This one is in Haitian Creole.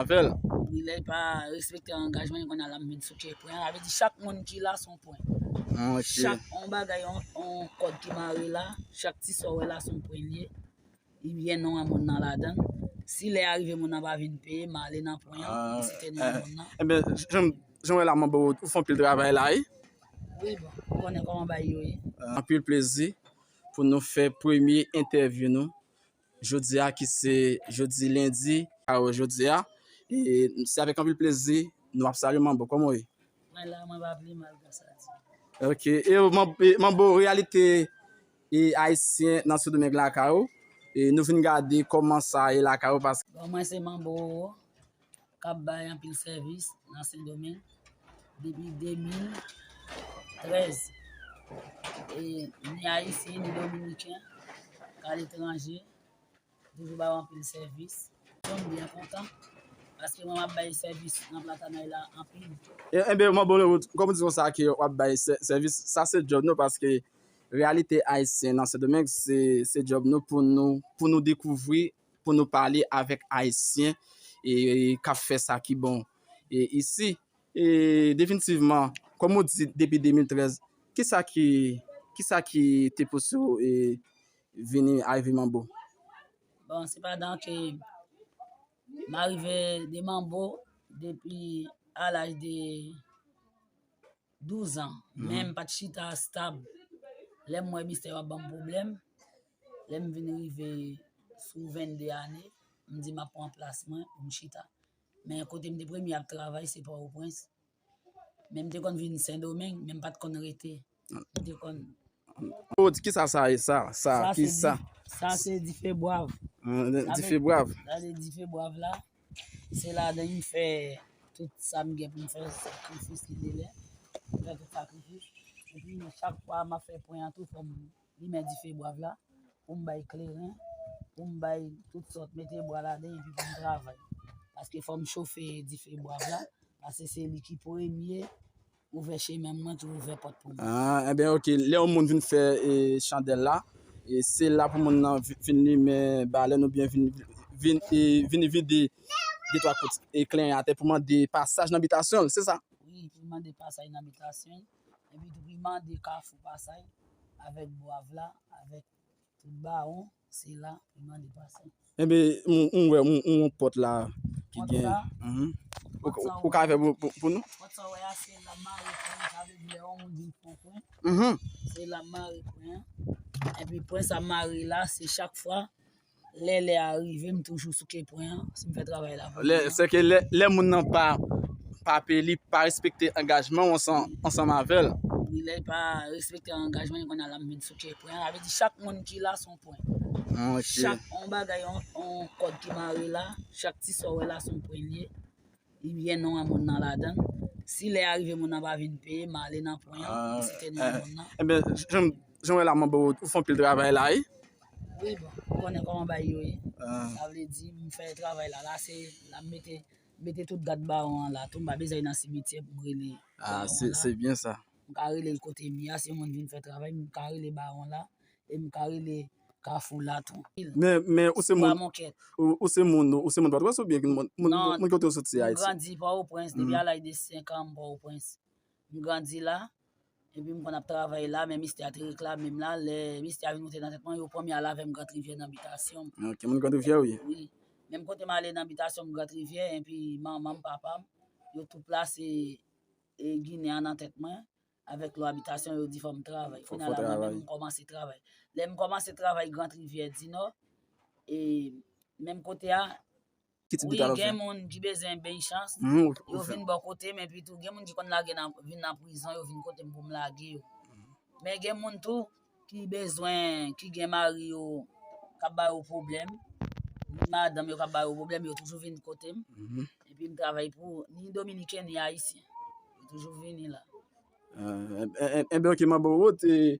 avèl. Wi lèl pa respekte angajman li konn al ap met sou kè pwen sa vle di chak moun ki la son pwen chak on bagay on kòd ki mare la chak ti sa ou wè la son pwen li ye li gen non a moun nan ladann si lè a rive moun nan pa vin peye ma ale nan pwen an mwen site non a moun nan enben jan wè la mwen bò ou fon pil travay la wi wi bon ou konnen kòman bagay yo ye anpil plezi pou nou fè premye entèvyou nou. Jodi a ki se jodi lendi karo jodi a e se avèk anpil plezi nou ap salye manbo kòman ou ye mwen la mwen pa vle mal grasa di ok e e manbo reyalite e ayisyen nan sodomeng lakay ou e nou vin gade kòman sa ye lakay ou paske bon mwen se manbo k ap bay anpil sèvis nan Sendomeng depi 2013. E ni Ayisyen ni Dominiken k aletranje toujou ba ou anpil sèvis. Mwen byen kontan paske mwen ap bay sèvis nan Platanay la anpil. Enben, mwen bon nou kòm ou di konsa ke w ap bay sèvis, sa se djòb nou paske reyalite Ayisyen nan Sendomeng se djòb nou pou nou dekouvri pou nou pale avèk Ayisyen k ap fè sa ki bon isi. E definitivman, kòm ou di depi 2013, ki sa ki te pouse ou vini Ivy Mambo? Bon, se pa dan ke m arive de Mambo depi a laj de... 12 ans men m pat chita stab lè m wè mistè yo ap banm pwoblèm lè m vin rive sou 22 ane m di m ap pran plas mwen pou m chita men kote m te premye ap travay se pòtoprens men m te konn vin sendomeng men m pat konn rete m te konn Ou di kisa sa ye sa sa ki sa sa se dife bwav dife bwav sa se dife bwav la Se la de m fè tout sa m gen pou m fè, sakrifis ki te lè, m fè tout sakrifis. Epi chak fwa m ap fè pwen an tou fò m limen dife bwav la, pou m bay kleren, pou m bay tout sòt, mete bwa ladan epi pou m travay. Paske fò m chofe dife bwav la, paske se li ki premye. Ouvè chemen mwen tou ouvè pòt pou mwen. Ah enben ok lè yon moun vin fè e chandèl la e se la pou moun nan vin limen balèn oubyen vin vin e vin vide de twa kout e klenyen atè pou mande pasaj nan bitasyon l se sa? Wi pou l mande pasaj nan bitasyon l epi tou pou l mande kafou pasaj avèk bwav la avèk tout bawon. Se la pou mande pase. Enbe, m wè yon pòt la ki gen. Pòt sa ou. Ou ka fè pou nou? Pòt sa ou wè a se la mare pwen an. Sa vle di lè yon moun vin pran pwen. Se la mare pwen an. Enpi pwen sa mare la se chak fwa lè lè a rive m toujou souke pwen an. Si m fè travay la. Se ke lè moun nan pa pè li pa respekte angajman ou ansanm avèl. Lè li pa respekte angajman li konn al la m vin. Ok, pwen an, avè di chak moun ki la son pwen. Monche. Chak, on bagay, on kòd ki mare la, chak ti sa ou wè la son pwen li ye. Li byen non an moun nan la dan. Si lè a rive moun nan pa vin peye, m ale nan pwen an, m site non an moun nan. E byen, jan, jan wè la man bò, ou fon pil travay la wi. Wi bon, ou konnen kòman bagay yo ye. Sa vle di, m fè travay la, la se, la m mete, mete tout gad bawon an la tou, m pa bezwen nan simetyè pou m rele bawon an la. A, se, se byen sa. m ka rele l kote mi a si yon moun vin fè travay, m ka rele bawon la, e m ka rele kafou la tou. Men ou se moun ou se moun ou se moun pòtoprens ou byen moun kote ou soti ayiti? Non, m grandi pòtoprens depi a laj de 5 an m pòtoprens. M grandi la, epi m konn ap travay la, men mistè a te reklame m la, lè mistè a vin moute nan tèt mwen, yo pran m y al avè m Grand Rivière nan bitasyon m. Ok, moun Grand Rivière ou ye? Wi, menm kote m ale nan bitasyon m Grand Rivière, epi manman m, papa m, yo tou plase E ginen an nan tèt mwen, avèk lwa abitasyon yo di fò m travay. Fò travay. Finalaman mwen menm m kòmanse travay. Lè m kòmanse travay Grand Rivière du Nord, e menm kote a, Ki tip de travay w ap fè? wi gen moun ki bezwen beny chans, yo vin bò kote m, epi tou gen moun ki konn lage nan, vin nan prizon, yo vin kote m pou m lage yo. Men gen moun tou, ki bezwen ki gen mari yo kap ba yo pwoblèm ni madanm yo kap ba yo pwoblèm yo toujou vin kote m mhm. epi m travay pou ni dominiken ni ayisyen yo toujou vini la enbe ok mabou ou te